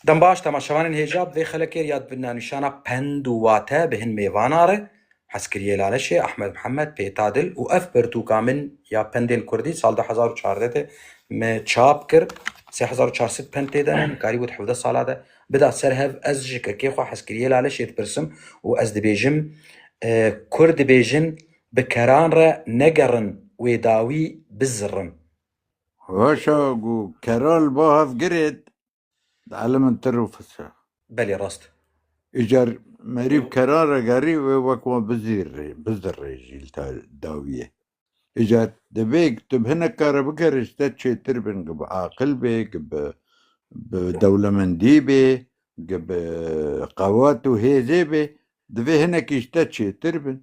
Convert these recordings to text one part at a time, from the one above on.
Dem baş temaşevanên hêja bi vê xelekê re ya bi navnîşana Pend û Wate bi hin mêvana re, Hezkiriyê Laleşê, Ahmed Mihemed, Pêta Dil û ev pirtûka min ya pendên kurdî sal du hezar û çardeh de me çap kir. Sê hezar û çar sed pend tê de ne, nikarîbû di hevdeh sala de bida ser hev. Ez ji kekê xwe Hezkiriyê Laleşê dipirsim û ez dibêjim, Kurd dibêjin bi keran re negerin wê dawî bizirin. Vaşa ku keral ba hev giret Di elê min tir û fis e. Belê rast. Îcar merîv kerare gerî wê wek wan bizîrrê, bizirrêjî li ta dawiyê. Îcar divê tu bi hinek kare bikerî ji te çêtir bin gi bi aqil bê, gi bi bi dewlemendî bê, gi bi qewet û hêzê bê. Divê hinekî ji te çêtir bin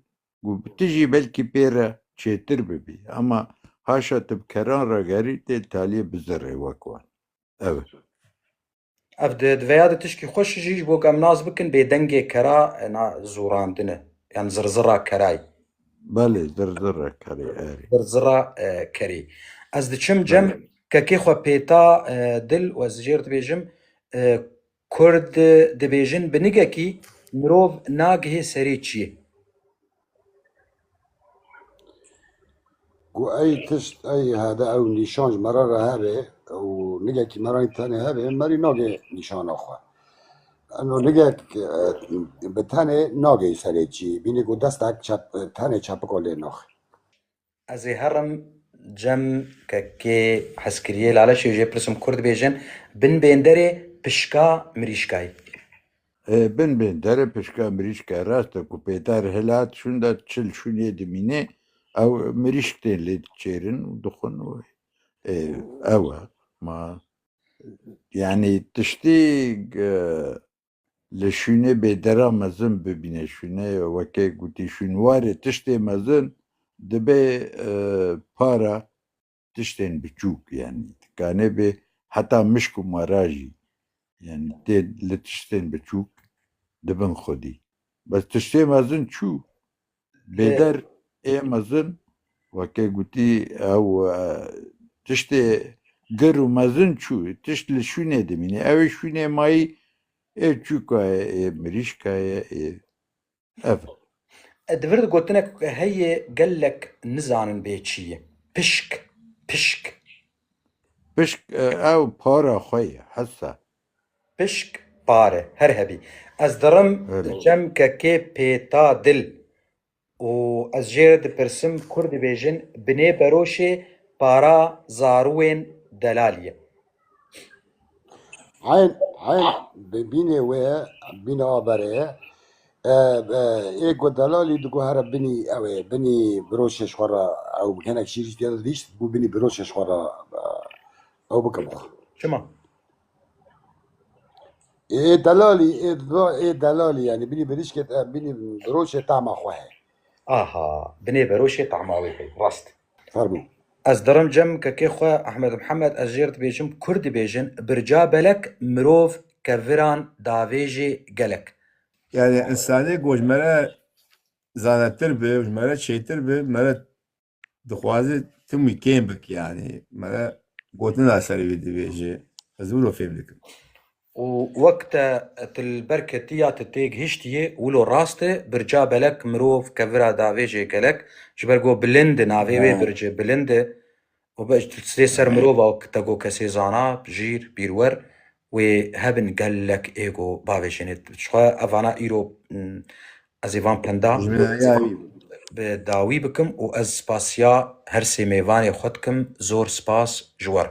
û tu jî belkî pê re çêtir bibî. Ema haşa tu bi keran re gerî tê li taliyê bizirrê wek wan. Ev e. Ev di diveya di tişkî xweş jî ji bo ku em nas bikin bêdengê kera na zorandin e. Yan zirzira kerayî. Belê zirzira kerê erê. Zirzira kerê. Ez diçim cem kekê xwe pêta dil û ez ji jêr dibêjim Kurd dibêjin binigekî mirov nagihê serê çiyê. Ku ey tişt ey hebe ew nîşan ji me re re hebe û nigekî me re tenê hebe merî nagê nîşana xwe. Eno nigek bi tenê nagê serê çiyê. Bîne ku destek çep tenê çepiko lê naxe. Ez ê herim cem ke kê hez kiriyê Laleşê û jê pirsim Kurd bêjin Bin bênderê pişka mirîşkayê. Hê bin bênderê pişka mirîşkayê rast e ku pêter hilat şûnda çil şûnê dimînê ew mirîşk tên lê diçêrin û dixwin û hê ew e ma yanî tiştî Li şûnê bêdera mezin bibîne. Şûnê weke gotî şûnwarê tiştê mezin dibe para tiştên biçûk yanî dikanê bê heta mişk û mara jî yanî tê li tiştên biçûk dibin xwedî. Bes tiştê mezin çû Lêder ê mezin weke gotî ew tiştê gir û mezin çû tişt li şûnê dimînî ewê şûnê mayî ê çûka ye ê mirîşka ye ê ev Di vir gotinek heye gelek nizanin bê çî ye. Pişk, pişk. Pişk ew para xwe ye hesa. Pişk pare her hebî. Ez dirim çemke kê pêta dil û ez jê re dipirsim kur dibêjin binê beroşê para zarûên delal ye. Eyn eyn binê wê ye, binê averê ye. Ê ku delalî diguhere binî ew ê, binî biroşê ji xwe re ew hinek şîrî tê de dihîşt, dibû binî biroşê ji xwe re ew bike bo xwe. Çima? Aha, binê beroşê tahma wê heye. Rast. Ez dirim cem kekê xwe Ehmed Mihemed ez jêr dibêjim Kurd dibêjin birca belek mirov keviran davêjê gelek. Yanî însanê ku ji me re zanetir be û ji me re çêtir be, me re dixwaze tim wî kêm bik yanî me re gotina serê wî dibêje ez wilo fêm dikim. û wek te tu li ber ketî ya tu tê gihiştiyê wilo rast e, birca belek mirov kevira davê jê gelek ji ber go bilind e navê wê birci bilind e û tu sê ser mirova wek te go kesê zana, jîr, bîrwer Wê hebin gelek ego bavê jênê dixwe ev vana îro ez ê van penda bi dawî bikim û ez spasiya her sê mêvanê xwe dikim zor spas ji we re.